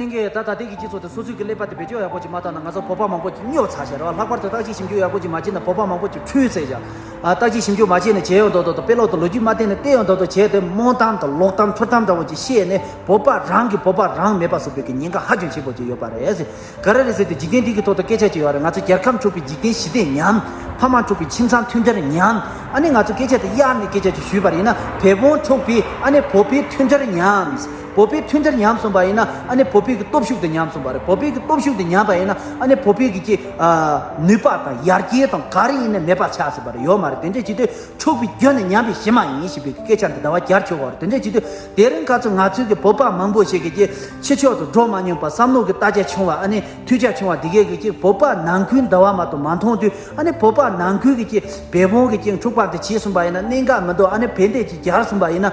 ཐེངས་འགའི་ད་ལྟ་དེང་གི་སྤྱི་ཚོགས་དེ་སོ་སོའི་གི་ཀླད་པ་དེ་བེད་སྤྱོད་ཡག་པོ་ཅིག་མ་བཏང་ན་ང་ཚོ་བོད་པ་མང་པོ་ཅིག་སྨྱོ་ཚ་ཞེས་ར་བ་ལྷག་པར་དུ་བརྟག་དཔྱད་ཞིབ་འཇུག་ཡག་པོ་ཅིག་མ་བྱེད་ན་བོད་པ་མང་པོ་ཅིག་འཁྲུལ་ཟེར་བཞག་བརྟག་དཔྱད་ཞིབ་འཇུག་མ་བྱས་ནས་བྱས་ཡོང་དོག་དོག་དང་དཔེ་ཀློག་དང་ལོ་རྒྱུས་མ་བལྟས་ནས་བལྟས་ཡོང་དོག་དོག་བྱས་ཏེ་རྨོངས་གཏམ་དང་ལོག་གཏམ་ཚུར་གཏམ་འདྲ་བོ་ཅིག་བཤད་ནས་བོད་པ་རང་གིས་བོད་པ་རང་མེད་པ་བཟོ་ཕོད་ཀྱི་ཉེན་ཁ་ཧ་ཅང་ཆེན་པོ་ཅིག་ཡོད་པ་རེད། ག་རེ་རེད་ཟེར་ཏེ་འཇིག་རྟེན་འདི་གི་ཐོག་ཏུ་སྐད་ཆ་བྱེད་ཡོང་བ་རེད་ང་ཚོ་རྒྱལ་ཁམས་འཁྲུག་པའི་འཇིག་རྟེན་ཞི་བདེ་ཉམས། ཕ་མ་འཁྲུག་པའི་ཁྱིམ་ཚང་མཐུན་སྦྱར་ཉམས། ཨ་ནི་ང་ཚོ་སྐད་ཆ་དེ་གཡར་ནས་སྐད་ཆ་ཅིག་ཞུས་པར་ཡིན་ན་བལ་བོང་འཁྲུག་པའི་ཨ་ནི་བོད་པའི་མཐུན་སྦྱར་ཉམས། བོད་པའི་མཐུན་སྒྲིལ་ཉམས་སོང་པ་ཡིན་ན་ཨ་ནི་བོད་པའི་གི་སྟོབས་ཤུགས་དེ་ཉམས་སོང་པ་རེད་བོད་པའི་གི་སྟོབས་ཤུགས་དེ་ཉམས་པ་ཡིན་ན་ཨ་ནི་བོད་པའི་གི་ཀྱི་ནུས་པ་དང་ཡར་རྒྱས་དང་ག་རེ་ཡིན་ནི་མེད་པ་ཆགས་སོང་པ་རེད་ཡོད་མ་རེད་དེ་འདྲས་བྱས་དུས་འཁྲུག་པའི་རྒྱུ་ནི་ཉམས་པའི་གཞི་མ་ཡིན་ཞེས་པའི་གི་སྐད་ཆ་འདི་ཟླ་བ་བརྒྱར་འཁྱོལ་བ་རེད་དེ་འདྲས་བྱས་དུས་དེ་རིང་ག་ཚོད་ང་ཚོའི་གི་བོད་པ་མང་པོ་ཞིག་གི་ཀྱི་ཕྱི་ཕྱོགས་དུ་འགྲོ་མ་མྱོང་པ་བསམ་བློ་གི་ལྟ་རྒྱ་ཆུང་བ་ཨ་ནི་ཐུགས་རྒྱ་ཆུང་བ་དེ་གའི་གི་ཀྱི་བོད་པ་ནང་ཁུལ་འདི་བ་མ་དོ་མ་མཐོང་དུས་ཨ་ནི་བོད་པ་ནང་ཁུལ་གི་ཀྱི་བེ་བོང་གི་ཀྱི་འཁྲུག་པ་འདི་བྱས་སོང་པ་ཡིན་ན་གནད་འགག་མི་འདུག་ཨ་ནི་བེ་འདས་ཀྱི་བརྒྱར་སོང་པ་ཡིན་ན།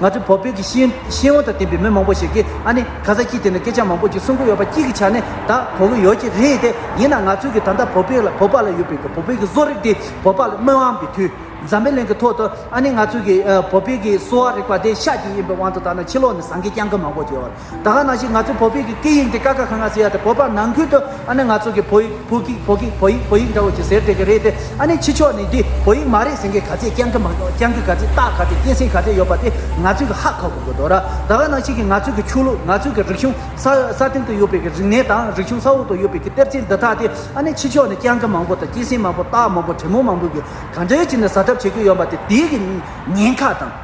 ང་ཚོའི་བོད་བོད་ཀྱི་ཤེས་ཤེས་ཡོན་དང་ལྡན་པའི་མི་མང་པོ་ཞིག་གིས་ཨ་ནི་ག་ས་སྐྱིད་དེ་ནི་སྐད་ཆ་མང་པོ་ཅིག་གསུང་གི་ཡོད་པ་སྐྱིད་ཀྱི་ཆ་ནས་ད་གོ་གི་ཡོད་ཀྱི་རེད་དེ་ཡིན་ན་ང་ཚོས་གི་ད་ལྟ་བོད་བོད་ལ་བོད་པ་ལ་ཡོད་པའི་གི་བོད་བོད་ཀྱི་བཟོ་རིག་དེ་བོད་པ་ལ་སྨོན་དབང་གི་དུས་འཛམ་པའི་གླིང་གི་ཐོག་ཏུ་ཨ་ནི་ང་ཚོས་གི་བོད་བོད་ཀྱི་གསོ་བ་རིག་པ་དེ་ཤ་ཀྱི་ཡིན་པའི་དབང་དུ་ད་ནི་ཕྱི་ལོག་ནས་ཟངས་ཀྱི་རྐྱང་གི་མང་པོ་ཅིག་ཡོད་ད་ག་ནང་བཞིན་ང་ཚོའི་བོད་བོད་ཀྱི་སྐད་ཡིག་འདི་ཀ་ཀ་ཁ་ང་ཟེར་ཡ་དེ་བོད་པ་ནང་ཁུལ་དུ་ཨ་ནི་ང་ཚོ་གི་བོད་ཡིག་བོད་ཀྱི་བོད་ཀྱི་བོད་ཡིག་བོད་ཡིག་འདྲ་བོ་ཅིག་ཟེར་དེ་གི་རེད་དེ་ཨ་ནི་ཕྱི་ཕྱོགས་ནས་འདི་བོད་ཡིག་མ་རེད་ཟེར་མཁན་ག་ཚད་རྐྱང་གི་མ་རྐྱང་གི་ག་ཚད་རྟགས་ག་ཚད་སྐྱེན་སྲིང་ག་ཚད་ཡོད་པ་དེ་ང་ཚོས་གི་ཧ་གོ་གི་དགོས་དོ་ར་ད་ག་ནང་བཞིན་གི་ང་ཚོས་གི་ཆོས་ལུགས་ང་ཚོས་གི་རིག་གཞུང་ས་ས་སྟེང་དུ་ཡོད་པའི་གི་རིག་གནས་དང་རིག་གཞུང་ས་འོག་ཏུ་ཡོད་པའི་གི་གཏེར་ཆེན་འདི་དག་དེ་ཨ་ནི་ཕྱི་ཕྱོགས་ནས་རྐྱང་གི་མང་པོ་དང་སྐྱེན་སྲིང་མང་པོ་རྟགས་མང་པོ་དྲེད་མོ་མང་པོས་གི་ག་འདྲེ་བྱས་ནས་ཟ་གྲབས་བྱེད་གི་ཡོད་པ་དེ་དེའི་གི་ཉེན་ཁ་དང།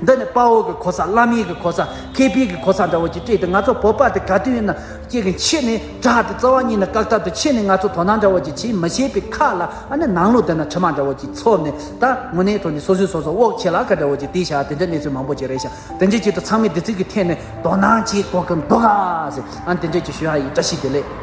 འདི་ནི་དཔའ་བོ་གི་གོ་ས་བླ་མེད་ཀྱི་གོ་ས་མཁས་པའི་གི་གོ་ས་འདྲ་བོ་ཅིག་སྤྲད་དེ་ང་ཚོ་བོད་པ་དེ་ག་དུས་ཡིན་ན་ཅིག་གི་མཆེད་ནས་དྲག་དེ་རྩ་བ་ཉིད་ནས་བཀག་ཐབས་དུ་མཆེད་ནས་ང་ཚོ་དོ་སྣང་འདྲ་བོ་ཅིག་བྱེད་མི་ཤེས་པའི་ཁ་ལ་ཨ་ནི་ནང་ལོག་དེ་ན་དྲི་མ་འདྲ་བོ་ཅིག་ཚོར་ནས་ད་དངོས་གནས་ཐོག་ནས་སོ་སོའི་སོ་སོ་དབོག་ཆེ་ལ་ཁ་འདྲ་བོ་ཅིག་དེ་ཤ་དེ་འདྲ་གནས་ཚུལ་མང་པོ་ཅིག་རེད་ཤ་དེ་འདྲའི་ཆེད་དུ་ཚང་མས་དེ་ཚིག་གི་ཐད་ནས་དོ་སྣང་བྱེད་དགོས་ཀྱི་འདུག་ག་ཟེར་ཨ་ནི་དེ་འདྲས་ཀྱི་ཞུ་ཡ་ཡིས་བཀྲ་ཤིས་བདེ་ལེགས།